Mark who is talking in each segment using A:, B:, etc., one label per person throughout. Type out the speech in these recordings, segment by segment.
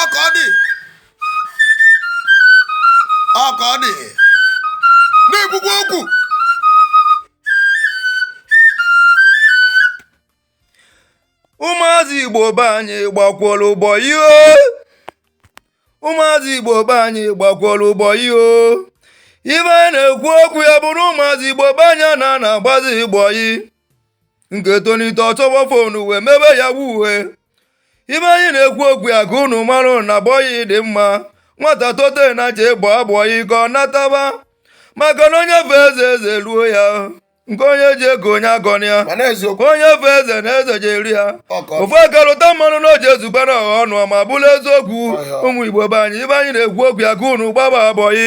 A: ọ ka ọ dị ọ ka ọ dị na-ekwukwa okwu ụmụazị igbo be anyị gbakworo bọyị e ụmụazị igbo be anyị gbakworo bọyị e ibe anyị na-ekwu okwu ya bụrụ ụmụazị igbo be anyị a na na-agbazi bọyị nke tonite ọ chọba fonu wee mebe yahoo e ibe anyị na-ekwu okwu ya ka unu mara na bọyị dị mma nwata tote na je gbaa bọyị ka ọ nataba maka na onye fe eze eze eruo ya nke onye ji ego onye agọna ya onye fe eze na eze je eru ya ofu aka rụta mmanụ na o je ezugba na ọha ọnụ ma bụrụ eziokwu ụmụ igbo be anyị ibe anyị na-ekwu okwu ya ka unu gbaba bọyị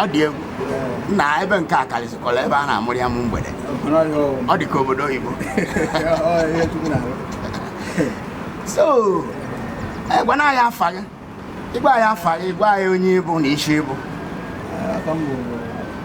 B: ọ dị
C: egwu na ebe nke a karịsịkwara ebe a na-amụrụ ya amụ mgbede ọ dị ka obodo oyibo so gwana anyị afa gị ị gwa anyị afa gị gwa anyị onye ị bụ na isi ị bụ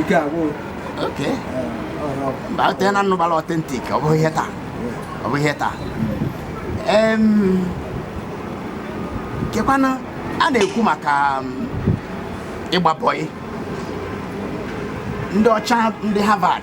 C: ike agwụghị mba o teena m nụbara Authentic ọ bụghị ihe taa ọ bụghị ihe taa kekwanụ a na-ekwu maka um, ịgba bọyị ndị ọcha ndị Harvard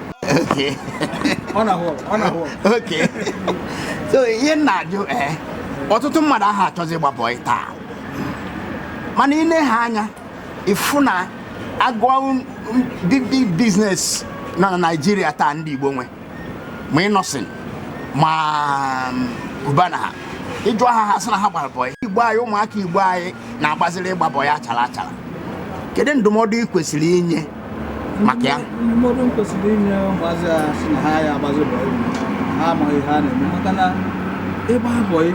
B: Okay. ọ na-ahụ ọgụ, ọ na-ahụ ọgụ.
C: Okay. so ihe m na-ajụ ee ọtụtụ mmadụ aha achọzi ịgba bọị taa mana i nee anya ị fụ na a gụọ big big business nọ na Naịjirịa taa ndị Igbo nwe ma Innoson ma Cubana ha ị jụọ ha ha sị na ha gbara bọị Igbo anyị ụmụaka Igbo anyị na-agbaziri ịgba bọị achara achara kedu ndụmọdụ ị kwesịrị inye maka ya ndụmọdụ m
B: kwesịrị inye ụmụazị a sị na ha ya agbazi bọyị ha amaghị ihe a na-eme maka na ịgba bọyị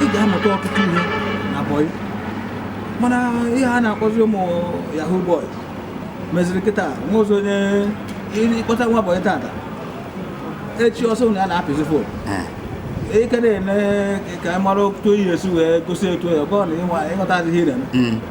B: ị ga-amụta ọtụtụ ihe na bọyị mana ihe a na-akpọzi ụmụ yahoo boy meziri kịta nwa ọzọ onye ị kpọta nwa bọyị tata echi ọ sị na ya na-apịzi fon Eh, ike na-ene ka ị mara otu oyi esi wee gosi etu ya ọ bụrụ na ịnwa- ịghọta adịghị ire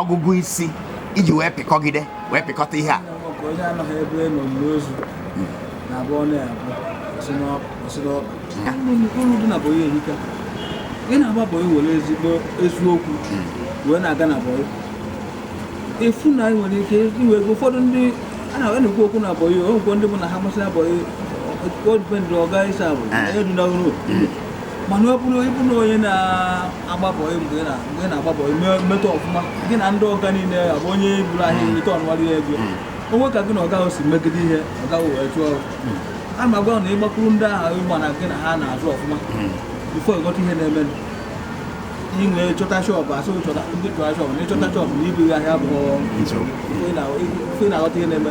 C: ọgụgụ isi i ji wee pịkọgide wee pịkọta ihe a onye anọghị ebe
B: e nili ozu na-abọ ọnụ ya abọ uru dị na bọyị ehika ị na-agba bọyị were ezigbo eziokwu wee na-aga na bọyị ị fụ na i nwere ike inwe ego ụfọdụ ndị a na-ekwu okwu na bọyị o nwekwa ndị bụ na ha masịrị bọyị ọ depend ọga ị serve onye dị n'ọhụrụ mana ọ bụrụ ị bụ na onye na-agba bọị mgbe ị na- mgbe ị na-agba bọị me- metụ ọfụma gị na ndị ọga niile abụ onye buru ahịa erite ọnụwarị ya ego o nwee ka gị na ọga ahụ si megide ihe ọga ahụ wee chụọ ọrụ a ma gwa na ị gbakwuru ndị ahụ ịgba na gị na ha na-azụ ọfụma before ị ghọta ihe na-eme i wee chọta shop a sị chọta ndị chọta shop na ịchọta shop na ibu gị ahịa bụ nsogbu ife ị na-aghọta ihe na-eme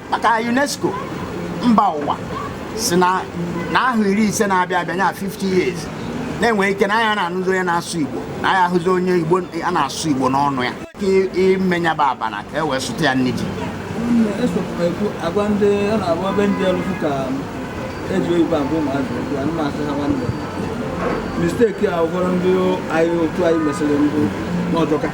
C: maka UNESCO mba ụwa sị na n'ahọ iri ise na-abịa abịa nya 50 years na e nwe ike na a ya na-anụzi onye na-asụ Igbo na a ya-ahụzi onye Igbo a na-asụ Igbo n'ọnụ ya ka imenyaba abana ka e wee sụta ya nne ji a
B: gwa ndị ọ na-abụ ebe ndị ọlụfụ ka eji oyibo agwa ụmụazị okwu a na-asị ha nwanne mistake a ụfọdụ ndị anyị otu anyị mesịrị mbụ na ọ jọka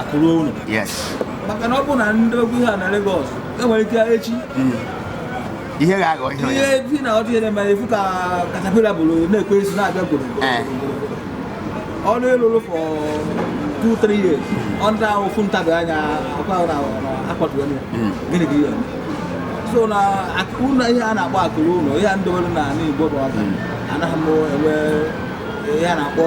B: akụ ruo ụlọ maka
C: na ọ bụ
B: na ndị okwu ihe a na Lagos e nwere ike echi
C: hmm. ihe ga-aghọ ihe ihe bi na ọdụ ihe na-eme
B: a fụ ka caterpillar buru na-ekwe isi na-abịa gboro eh. ụlọ ị lụrụ for 2-3 years ọ n'ofu ntabi anya akwa na akpọtụrụ hmm. gịnị ka ihe so na ụlọ ihe a na-akpọ akụ ruo ụlọ ihe ndị nwere n'ala Igbo bụ ọka hmm. anaghị m enwe ihe a na-akpọ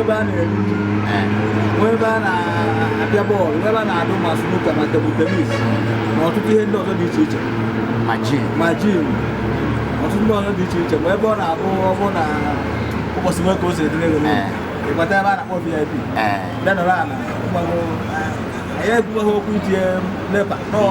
B: ebe a na-eri nri nwee ebe a na-apịa bọọlụ ebe a na-adụ ma snooker ma table tennis na ọtụtụ ihe ndị ọzọ dị iche iche ma gym ọtụtụ ndị ọzọ dị iche iche ma ebe ọ na-abụ ọ bụ na ụbọchị nwe ka o si adịrị gị ị gbata ebe a na-akpọ VIP bịa nọrọ ala anyị ebubeghị hope etinye NEPA nọọ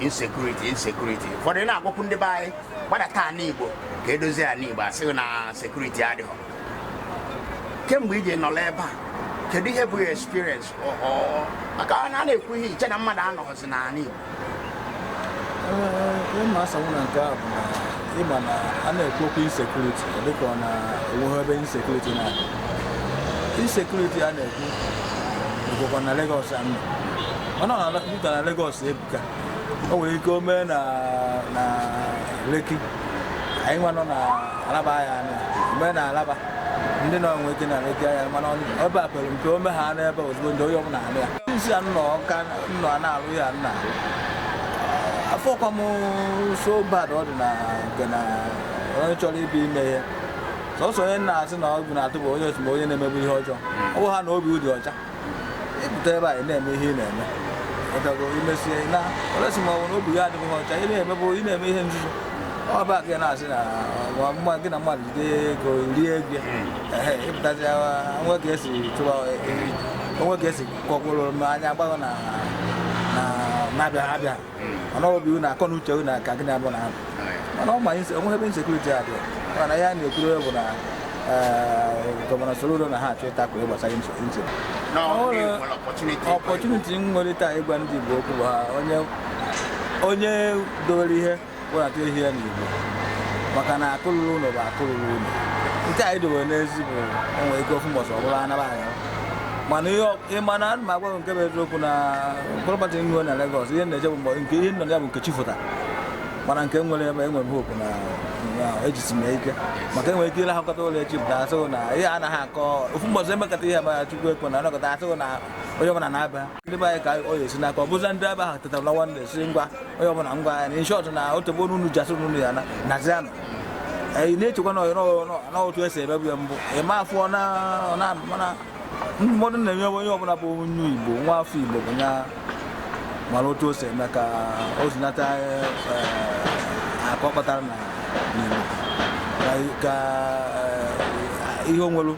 C: insecurity insecurity ụfọdụ na-agwakwu ndị be anyị gbadata ala igbo ka e dozie ala igbo a sị gị na security adịghị kemgbe i ji nọrọ ebe a kedu ihe bụ experience maka na a na-ekwu ihe i chee na mmadụ anọghịzi n'ala
B: igbo ihe m ga-asanwu na nke a bụ na ị ma na a na-ekwu okwu insecurity dịka ọ na e nweghị ebe insecurity na-adị insecurity a na-ekwu bụkwa na Lagos a mana ọ na Peter na Lagos ebuka o nwere ike o mee na na Lekki anyị nwa nọ na Alaba anyị anụ ya mee na Alaba ndị nọ nwe ike na Lekki anụ ya mana ọ- ebe a pere mpe o mee ha n'ebe ozugbo ndị onye ọbụla anụ ya isi a nnọ ka nnọ a na-alụ ya nna afọ kwa m so bad ọ dị na nke na onye chọrọ ịbịa ime ihe sọsọ onye m na-asị na egwu na-atụ bụ onye otu ma onye na-emebu ihe ọjọọ ọ bụhaa na obi dị ọcha ịpụta ebe a ị na-eme ihe ị na-eme ịgago imesie na olesi ma ọ bụ na obi ya adịghị ọcha ị na-emebụ ị na-eme ihe nzuzo ọ bụ aka ị na-asị na ọ bụ mma gị na mmadụ jide ego rie ego ehe ịpụtazi o nwe ka esi chụwa o nwe ka esi kọkwụrụ m anya gbaghọ na na na-abịa abịa mana ọ bụ unu akọ na uche unu aka gị na-abụ na ahụ mana ọ ma anyị o nweghị ebe insecurity adị mana ihe a na-ekwuru bụ na gọvanọ Soludo na-achọ ịtackle gbasara insecurity opportunity nwere taa ịgwa ndị Igbo okwu bụ ha onye dowere ihe webata ihe ya n'Igbo maka na akụ lulu ụlọ bụ akụ lulu ụlọ nke anyị dowere n'ezi bụ o nwe ike ofu mbọsị ọbụla anaba anya mana ihe ọ- ị ma na ana m agwa gị nke bụ eziokwu na property nwe na Lagos ihe na-eje bụ mbọ nke ihe nọ na ya bụ nke chi fọta mana nke nwere ebe enwere m hope na na ejisi m ya ike maka enwere ike ịlahakọta ụla echi pụta asịghị na ihe anaghị akọ ofu mbọsị emekọta ihe ma Chukwu ekwena anọkọta asịghị na onye ọbụla naba ndị be anyị ka ọ ya esi n'aka ọ bụzi ndị ebe ahụ tetara lawa ndị sị ngwa onye ọbụla ngwa ya naa in short na o tegbo n'unu ji asị n'unu ya-ana nazianụ anyị na-echekwa na ọyọ na otu esi emebu ya mbụ ịma afọ ọ na ọ na mana ndụmọdụ na-enye onye ọbụla bụ onye Igbo nwa afọ Igbo bụ ya mara otu o si eme ka o zinata eh, akụ ọ kpatara na n'Igbo ka- ka eh, ihe o nwere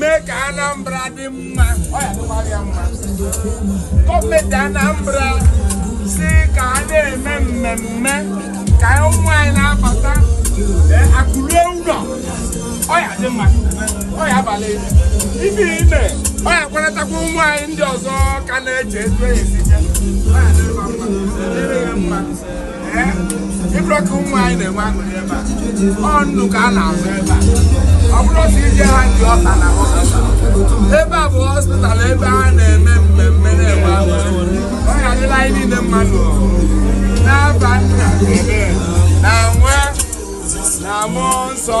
C: mee ka Anambra dị mma ọ ya-adịkwara ya mma gọọmenti Anambra sị ka a na-eme mmemme ka ụmụ anyị na-abata akụ luo ụlọ ọ ya-adị mma ọ ya-abalị ibi ime ọ ya-akwanatakwa ụmụ anyị ndị ọzọ ka na-eche etu esi je ọ ya-adịrị mma ịbụrụ ka ụmụ anyị na-enwe aṅụrị ebe a ọ nnu ka a na-azụ ebe a ọ bụrụ si ije ha ndị ọka na ebe a bụ hospital ebe a na-eme mmemme na-enwe aṅụrị ọ ya-adịlị anyị niile mma n'afa nna na nwa na mmụọ nsọ